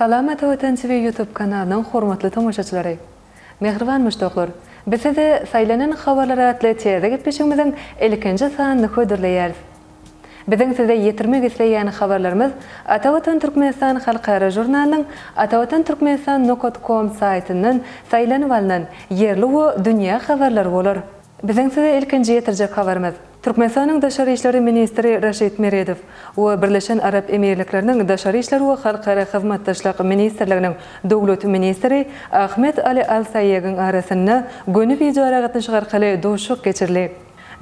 Salam Ata Watan TV YouTube kanalynyň hormatly tomaşaçylary! Mähriban muşdaklar! Biz size Saýlanan habarlar atly täze gepleşigimiziň ilkinji sanyny hödürleýäris. Biziň size ýetirmek isleýän habarlarymyz Atavatan Türkmenistan halkara žurnalynyň atavatanturkmenistan nokat kom saýtyndan saýlanyp alnan ýerli we dünýä habarlary bolar. Biziň size ilkinji ýetirjek habarymyz, Türkmenistanyň daşary işleri ministri Raşid Meredow we Birleşen Arap Emirlikleriniň Daşary işler we halkara hyzmatdaşlyk ministrliginiň döwlet ministri Ahmed Ali Al Saýegiň arasynda göni wideoaragatnaşyk arkaly duşuşyk geçirli.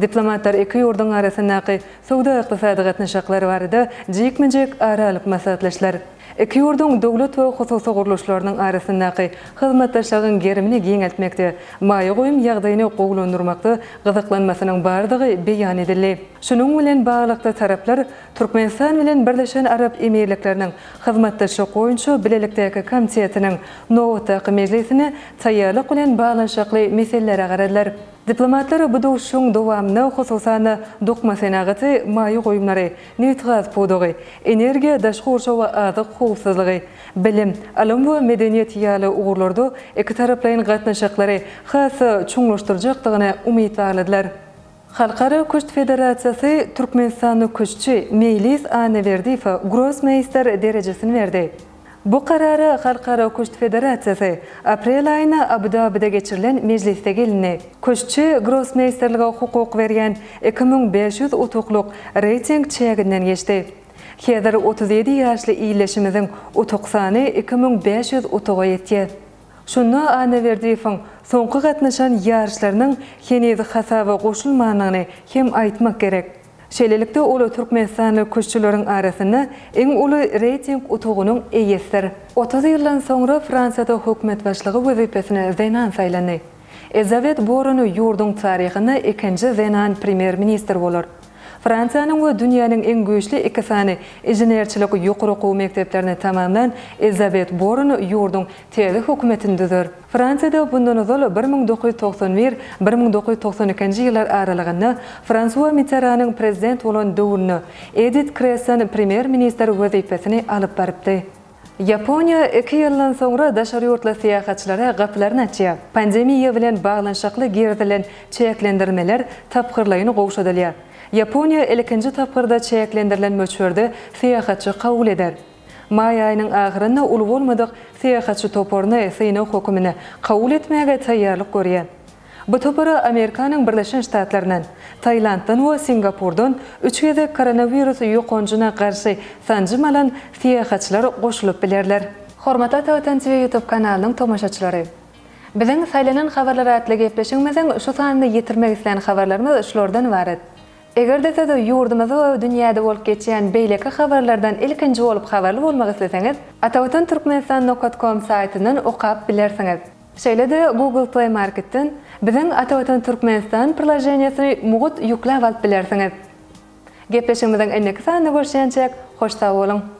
Diplomatlar iki ýurduň arasyndaky söwda-ykdysady gatnaşyklar barada jikme-jik ara alyp maslahatlaşdylar. Iki ýurduň döwlet we hususy gurluşlarynyň arasyndaky hyzmatdaşlygyň gerimini giňeltmekde, maýa goýum ýagdaýyny gowulandyrmakda gyzyklanmasynyň bardygy beýan edildi. Şunuň bilen baglylykda taraplar Türkmenistan bilen Birleşen Arap Emirlikleriniň Hyzmatdaşlyk boýunça bilelikdäki komitetiniň nobatdaky mejlisine taýýarlyk bilen baglanyşykly meselelere garadylar. Diplomatlar bu duşuşygyň dowamyna, hususan-da, dokma senagaty, maýa goýumlary, nebitgaz pudagy, energiýa, daşky gurşaw we azyk howpsuzlygy, bilim, ylym we medeniýet ýaly ugurlarda ikitaraplaýyn gatnaşyklary has-da çuňlaşdyrjakdygyna umyt bagladylar. Halkara küşt federasiýasy türkmenistanly küştçi Meýlis Annaberdiýewe grossmeýster derejesini berdi. Bu karara Halkara küşt federasiýasy aprel aýynda Abu-Dabide geçirilen mejlisde gelindi. Küştçi grossmeýsterlige hukuk berýän iki müň bäş ýüz utuklyk reýting çäginden geçdi. Häzir otuz ýedi ýaşly illeşimiziň utuk sany iki müň bäş ýüz utuga ýetýär. Şunda Annaberdiýewiň soňky gatnaşan ýaryşlarynyň heniz hasaba goşulmandygyny hem aýtmak gerek. Şeýlelikde, ol türkmenistanly küştçüleriň arasynda iň uly reýting utugynyň eýesidir. Otuz ýyldan soňra Fransiýada hökümet başlygy wezipesine zenan saýlandy. Elizabet Born ýurduň taryhynda ikinji zenan premýer-ministr bolar. Fransiýanyň we dünýäniň iň güýçli iki sany inženerçilik ýokary okuw mekdeplerini tamamlan Elizabet Born ýurduň täze hökümetini düzer. Fransiýada mundan ozal bir müň dokuz ýüz togsan bir, bir müň dokuz ýüz togsan ikinji ýyllar aralygynda Fransua Mitteranyň prezident bolan döwründe Edit Kreson premýer-ministr wezipesini alyp barypdy. Ýaponiýa iki ýyldan soňra daşary ýurtly syýahatçylara gapylaryny açýar. Pandemiýa bilen baglanyşykly girizilen çäklendirmeler tapgyrlaýyn gowşadylýar. Ýaponiýa ilkinji tapgyrda çäklendirilen möçberde syýahatçy kabul eder. Maý aýynyň ahyrynda uly bolmadyk syýahatçy toparyny synag hökümine kabul etmäge taýýarlyk görýär. Bu topara Amerikanyň Birleşen Ştatlaryndan, Tailanddan we Singapurdan üç gezek koronawirus ýokanjyna garşy sanjym alan syýahatçylar goşulyp bilerler. Hormatly Ata Watan TV ýutub kanalynyň tomaşaçylary! Biziň Saýlanan habarlar atly gepleşigimiziň şu sanyny ýetirmek islän habarlarymyz şulardan ybarat. Eger-de siz ýurdumyzda we dünýäde bolup geçýän beýleki habarlardan ilkinji bolup habarly bolmak isleseňiz, Atawatan Türkmenistan nokat kom saýtyndan okap bilersiňiz. Şeýle-de Google Play Marketden biziň Atawatan Türkmenistan priloženiýesini mugt ýükläp alyp bilersiňiz. Gepleşigimiziň indiki sanyna görüşýänçäk hoş sag boluň!